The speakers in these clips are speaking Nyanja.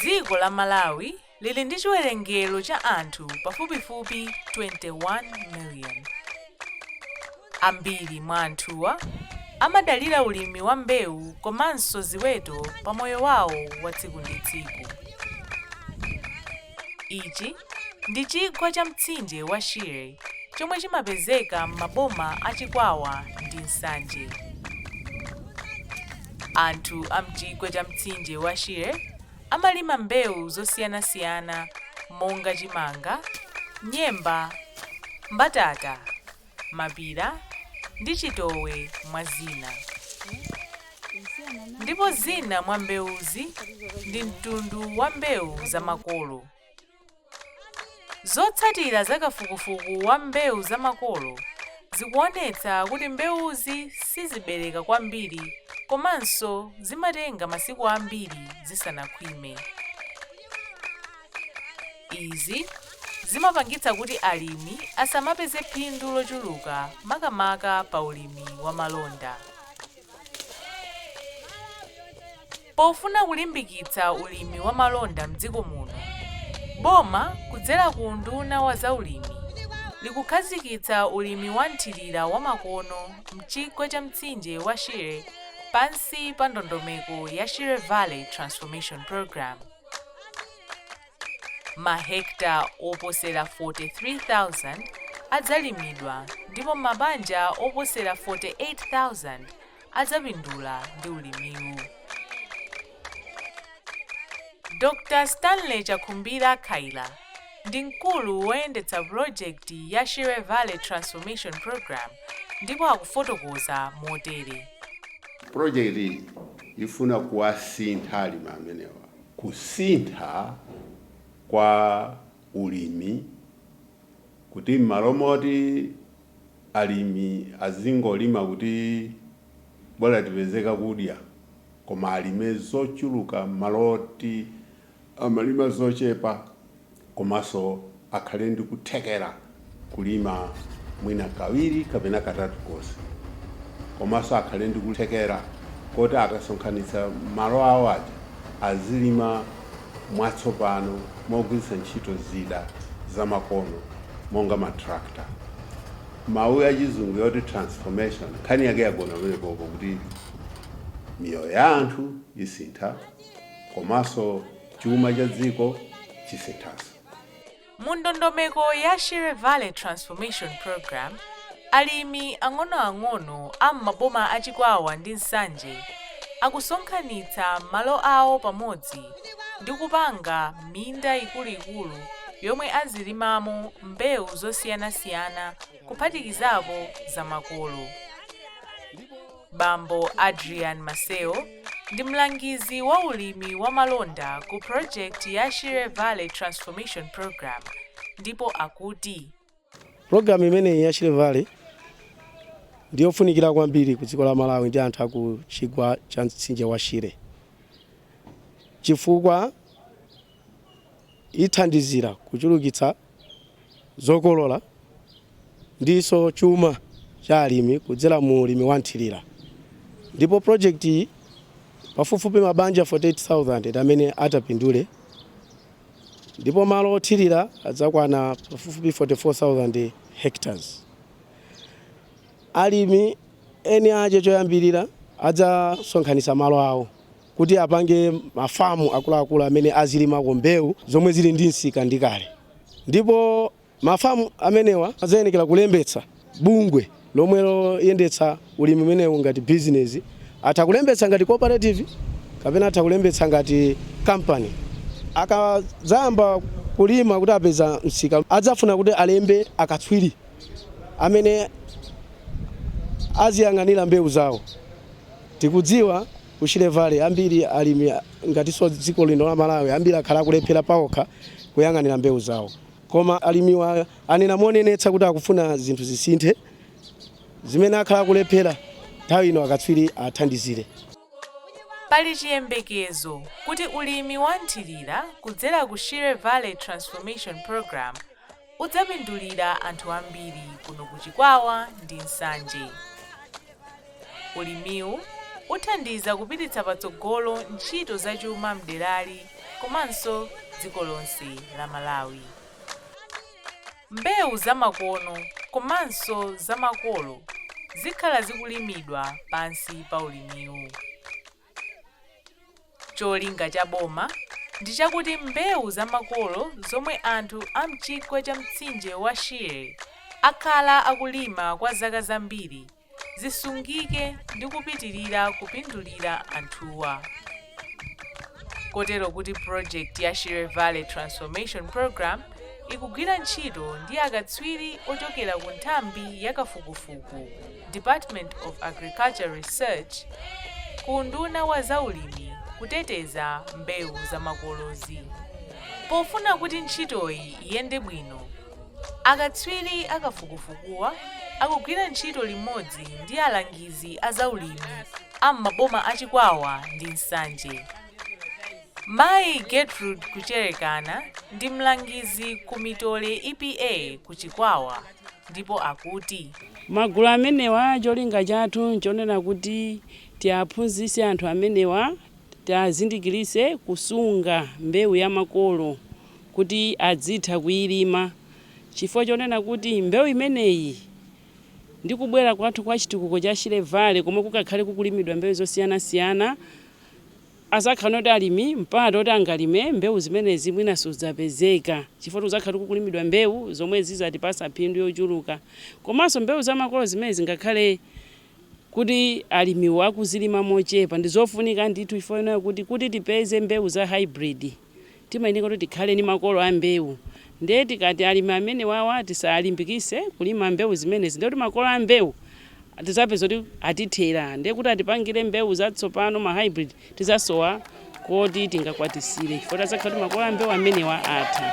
Dziko la Malawi lili ndi chiwerengero cha anthu pafupifupi 21 million. Ambiri mwa anthuwa amadalira ulimi wa mbewu komanso ziweto pa moyo wawo wa tsiku ndi tsiku. Ichi ndi chigwa cha mtsinje wa Shire chomwe chimapezeka m'maboma a Chikwawa ndi Nsanje. Anthu a m'chigwa cha mtsinje wa Shire amalima mbewu zosiyanasiyana monga chimanga, nyemba, mbatata, mapira, ndi chitowe, mwa zina. Ndipo zina mwa mbewuzi ndi mtundu wa mbewu za makolo. Zotsatira za kafukufuku wa mbewu za makolo zikuonetsa kuti mbewuzi sizibereka kwambiri komanso zimatenga masiku ambiri zisanakhwime. Izi zimapangitsa kuti alimi asamapeze phindu lochuluka makamaka pa ulimi wa malonda. Pofuna kulimbikitsa ulimi wa malonda mdziko muno, boma kudzera ku unduna wa za ulimi likukhazikitsa ulimi wa mthirira wa makono mchigwa cha mtsinje wa Shire pansi pa ndondomeko ya Shire Valley Transformation Programme. Mahekta oposera 43,000 adzalimidwa ndipo mabanja oposera 48,000 adzapindula ndi ulimiwu. Dr. Stanley Chakhumbira Khaila ndi mkulu woyendetsa pulojekiti ya Shire Valley Transformation Programme ndipo akufotokoza motere. Projekti ifuna kuwasintha alimi amenewa, kusintha kwa ulimi kuti m'malo moti alimi azingolima kuti bola tipeze kakudya, koma alime zochuluka m'malo oti amalima zochepa komanso akhale ndi kuthekera kulima mwina kawiri kapena katatu konse komanso akhale ndi kuthekera koti akasonkhanitsa malo awo aja azilima mwatsopano mogwiritsa ntchito zida zamakono monga matractor mawu ya chizungu yoti transformation nkhani yake yagona pamenepopo kuti miyoyo ya anthu isintha komanso chuma cha dziko chisinthanso. Mu ndondomeko ya Shire Valley Transformation Programme, alimi ang'onoang'ono a m'maboma a Chikwawa ndi Nsanje akusonkhanitsa malo awo pamodzi ndi kupanga minda ikuluikulu yomwe azilimamo mbewu zosiyanasiyana kuphatikizapo zamakolo. Bambo Adrian Maseo ndi mlangizi wa ulimi wa malonda ku project ya Shire Valley Transformation Programme ndipo akuti, Pulogalamu imeneyi ya Shire Valley ndi yofunikira kwambiri ku dziko la Malawi ndi anthu a ku chigwa cha mtsinje wa Shire chifukwa ithandizira kuchulukitsa zokolola ndinso chuma cha alimi kudzera mu ulimi wa mthirira ndipo project iyi pafupifupi mabanja 48000 amene atapindule ndipo malo othirira adzakwana pafupifupi 44000 hectares alimi eni ache choyambirira adzasonkhanitsa malo awo kuti apange mafamu akuluakulu amene azilimako mbewu zomwe zili ndi msika ndi kale ndipo mafamu amenewa adzayenekera kulembetsa bungwe lomwe loyendetsa ulimi umenewu ngati bizinesi atha kulembetsa ngati cooperative kapena atha kulembetsa ngati kampani akadzayamba kulima kuti apeza msika adzafuna kuti alembe akatswiri amene aziyang'anira mbewu zawo tikudziwa Ku Shire Valley ambiri alimi ngatinso dziko lino la Malawi ambiri akhala akulephera paokha kuyang'anira mbewu zawo. Koma alimiwa anena monenetsa kuti akufuna zinthu zisinthe. Zimene akhala akulephera, nthawi ino akatswiri athandizire. Pali chiyembekezo kuti ulimi wa nthirira kudzera ku Shire Valley Transformation Programme, udzapindulira anthu ambiri kuno ku Chikwawa ndi Nsanje. Ulimiwu uthandiza kupititsa patsogolo ntchito za chuma m'derali komanso dziko lonse la Malawi. Mbewu zamakono komanso zamakolo zikhala zikulimidwa pansi pa ulimiwu. Cholinga cha boma ndi chakuti mbewu za makolo zomwe anthu a m'chigwa cha mtsinje wa Shire akhala akulima kwa zaka zambiri zisungike ndi kupitirira kupindulira anthuwa kotero kuti project ya Shire Valley Transformation Program ikugwira ntchito ndi akatswiri ochokera ku nthambi ya kafukufuku Department of Agriculture Research, ku unduna wa za ulimi kuteteza mbewu zamakolozi. Pofuna kuti ntchitoyi iyende bwino, akatswiri a kafukufukuwa akugwira ntchito limodzi ndi alangizi a za ulimi a m'maboma a Chikwawa ndi Nsanje. Mayi Gertrude Kucherekana ndi mlangizi ku Mitole EPA ku Chikwawa. ndipo akuti. Magulu amenewa cholinga chathu nchonena kuti tiaphunzitse anthu amenewa, tiazindikiritse kusunga mbewu ya makolo kuti azitha kuilima chifukwa chonena kuti mbewu imeneyi ndi kubwera kwathu kwa chitukuko cha Shire Valley komwe kukakhale kukulimidwa mbewu zosiyanasiyana Adzakhala kuti alimi mpata oti angalime mbewu zimenezi mwina sudzapezeka chifukwa choti kudzakhala kukulimidwa mbewu zomwe zidzatipatsa phindu yochuluka komanso mbewu za makolo zimenezi ngakhale kuti alimiwo akuzilima mochepa ndizofunika ndithu chifukwa chonena kuti kuti tipeze mbewu za hybrid Timayeneka kuti tikhale ndi makolo a mbewu. Ndiye tikati alimi amenewawa tisawalimbikise kulima mbewu zimenezi ndiye kuti makolo a mbewu tizapeza kuti atithera ndiye kuti atipangire mbewu zatsopano ma hybrid tizasowa koti tingakwatisire chifukwa tizakhala kuti makolo a mbewu amenewa atha.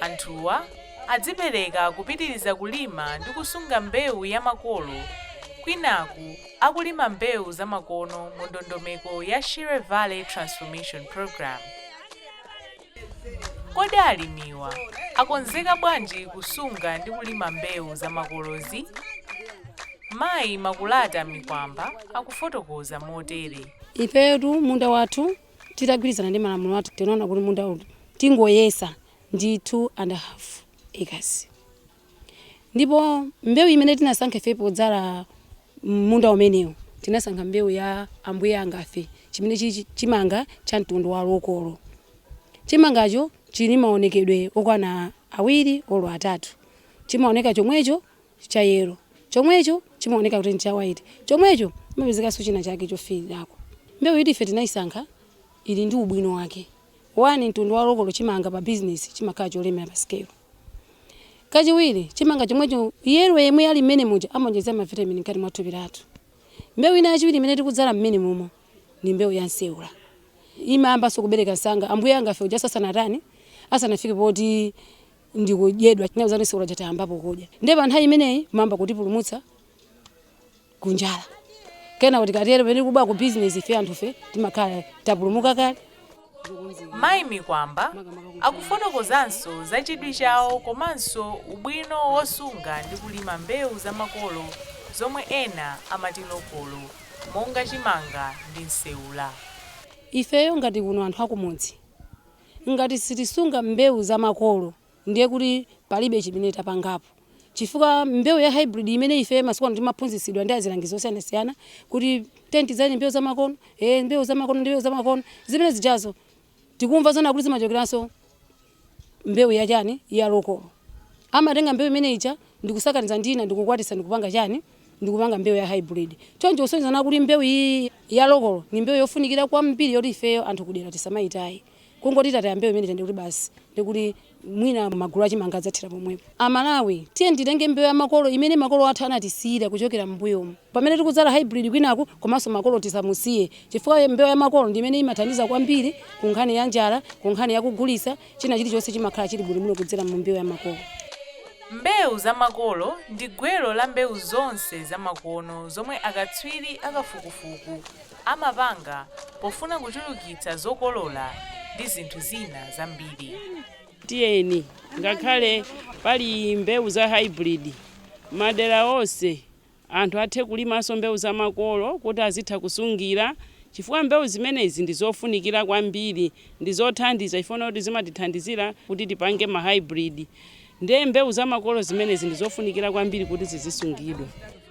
Anthuwa adzipereka kupitiriza kulima ndi kusunga mbewu ya makolo kwinaku akulima mbewu zamakono mu ndondomeko ya Shire Valley Transformation Programme. Kodi alimiwa akonzeka bwanji kusunga ndi kulima mbewu zamakolozi? Mayi Makulata Mikwamba akufotokoza motere. Ifetu munda wathu Titagwirizana ndi malamulo athu tinaona kuti munda uwu tingoyesa ndi 2 and half acres ndipo mbewu imene tinasankha ife podzala m'munda umenewu tinasankha mbewu ya ambuye angafe chimene chili chimanga cha mtundu wa lokolo. Chimangacho chili ndi maonekedwe okwana awiri olo atatu chimaoneka chomwecho. cha yellow, chomwecho chimaoneka kuti ncha white, chomwecho mumapezekanso china chake chofiirako. Mbewu yoti ife tinaisankha ili ndi ubwino wake. One, mtundu wa lokolo chimanga pa bizinesi chimakhala cholemera pa sikelo. Kachiwiri, chimanga chomwecho yellow yemwe ali mmene muja amaonjezera mavitamini mkati mwa thupi lathu. Mbewu ina yachiwiri imene tikudzala mmenemumo ndi mbewu ya nseula. Imayambanso kubereka msanga. Ambuye angafe uja asanatani, asanafike poti. ndikudyedwa nthawi zanu sikuti aja tayambapo kudya ndiye pa nthawi imeneyi imayamba kutipulumutsa kunjala kenako tikatero mwina kupita ku bizinesi ife anthufe timakhala tapulumuka kale mayi mikwamba akufotokozanso za chidwi chawo komanso ubwino wosunga ndi kulima mbewu za makolo zomwe ena amati lokolo monga chimanga ndi nseula ifeyo ngati kuno anthu akumudzi Ngati sitisunga mbewu za makolo ndiye kuti palibe chimene tapangapo chifukwa mbewu ya hybrid imene ife masiku ano timaphunzitsidwa ndi azilangizi osiyanasiyana kuti tiyeni tidzale mbewu zamakono, ee mbewu zamakono ndi mbewu zamakono, zimene zijazo tikumva zoona kuti zimachokeranso ku mbewu ya chani? Ya lokolo. amatenga mbewu imene ija ndikusakaniza ndi ina ndikukwatitsa ndikupanga chani ndikupanga mbewu ya hybrid choncho kusonyezana kuti mbewu iyi ya lokolo ndi mbewu yofunikira kwambiri yoti ifeyo anthu kudera tisamayitaye kungoti tataya mbewu imeneyi nde kuti basi ndiye kuti mwina magulu achimanga adzathira pomwepo amalawi tiyeni titenge mbewu ya makolo imene makolo athu anatisiyira kuchokera m'mbuyomu pamene tikudzala hybrid kwinaku komanso makolo tisamusiye chifukwa mbewu ya makolo ndi imene imathandiza kwambiri ku nkhani ya njala ku nkhani yakugulitsa China chilichonse chimakhala chili bwinobwino kudzera mu mbewu ya makolo. Mbewu za makolo ndi gwero la mbewu zonse zamakono zomwe akatswiri akafukufuku amapanga pofuna kuchulukitsa zokolola ndi zinthu zina zambiri. Tiyeni, ngakhale pali mbewu za hybrid, madera onse Anthu athe kulimanso mbewu za makolo kuti azitha kusungira chifukwa mbewu zimenezi ndi zofunikira kwambiri, ndi zothandiza chifukwa choti zimatithandizira kuti tipange ma hybrid ndiye mbewu za makolo zimenezi ndi zofunikira kwambiri kuti zizisungidwa.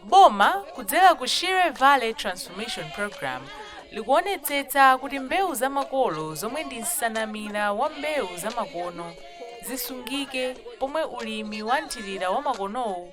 Boma kudzera ku Shire Valley Transformation Programme likuonetsetsa kuti mbewu za makolo zomwe ndi nsanamira ya mbewu zamakono zisungike pomwe ulimi wa nthirira wamakonowu